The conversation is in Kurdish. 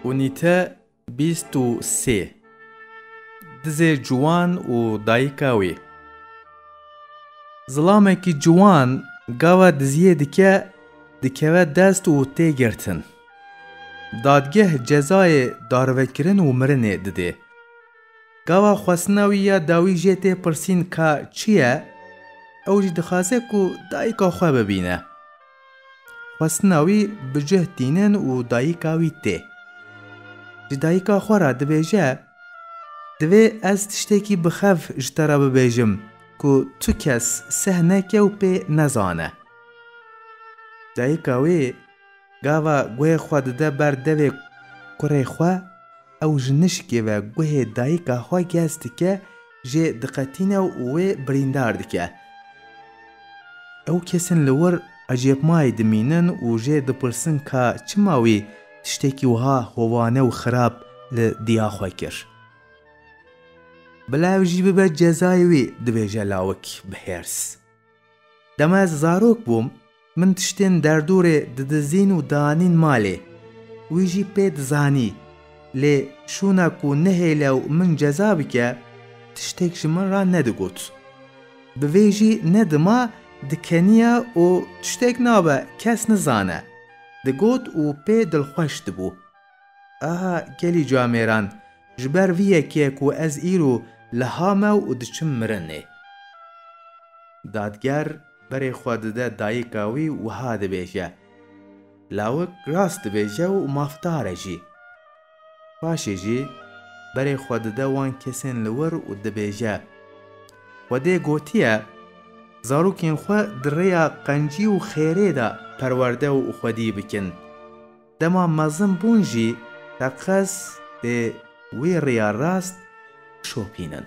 Unîte bîst û sê Dizê ciwan û dayika wî Zilamekî ciwan gava diziyê dike dikeve dest û tê girtin. Dadgeh cezayê darvekirin û mirinê didê. Gava xwestina wî ya dawî jê tê pirsîn ka çi ye, ew jî dixwaze ku dayika xwe bibîne. Xwestina wî bi cih tînin û dayika wî tê. Ji dayika xwe re dibêje, Divê ez tiştekî bi xev ji te re bibêjim ku tu kes seh neke û pê nezane. Dayika wê gava guhê xwe dide ber devê kurê xwe. Ew ji nişkê ve guhê dayika xwe gez dike, jê diqetîne û wê birîndar dike. Ew kesên li wir ecêbmayî dimînin û jê dipirsin ka çima wî tiştekî wiha hovane û xirab li diya xwe kir. Bila ev jî bibe cezayê wî, dibêje lawik bi hêrs. Dema ez zarok bûm, min tiştên derdorê didizîn û dianîn malê. Wî jî pê dizanî. Lê şûna ku nehêle û min ceza bike, tiştêk ji min re nedigot. Bi vê jî ne dima dikeniya û tiştêk nabe kes nizane, digot û pê dilxweş dibû. Aha gelî ca mêran, ji ber vî yekê ku ez îro li hamew û diçim mirinê. Dadger berê xwe dide dayika wî û wiha dibêje, Lawik rast dibêje û mafdar e jî. Paşê jî berê xwe dide wan kesên li wir û dibêje, Xwedê gotiye, Zarokên xwe di rêya qencî û xêrê de perwerde û xwedî bikin. Dema mezin bûn jî teqez dê wê rêya rast bişopînin.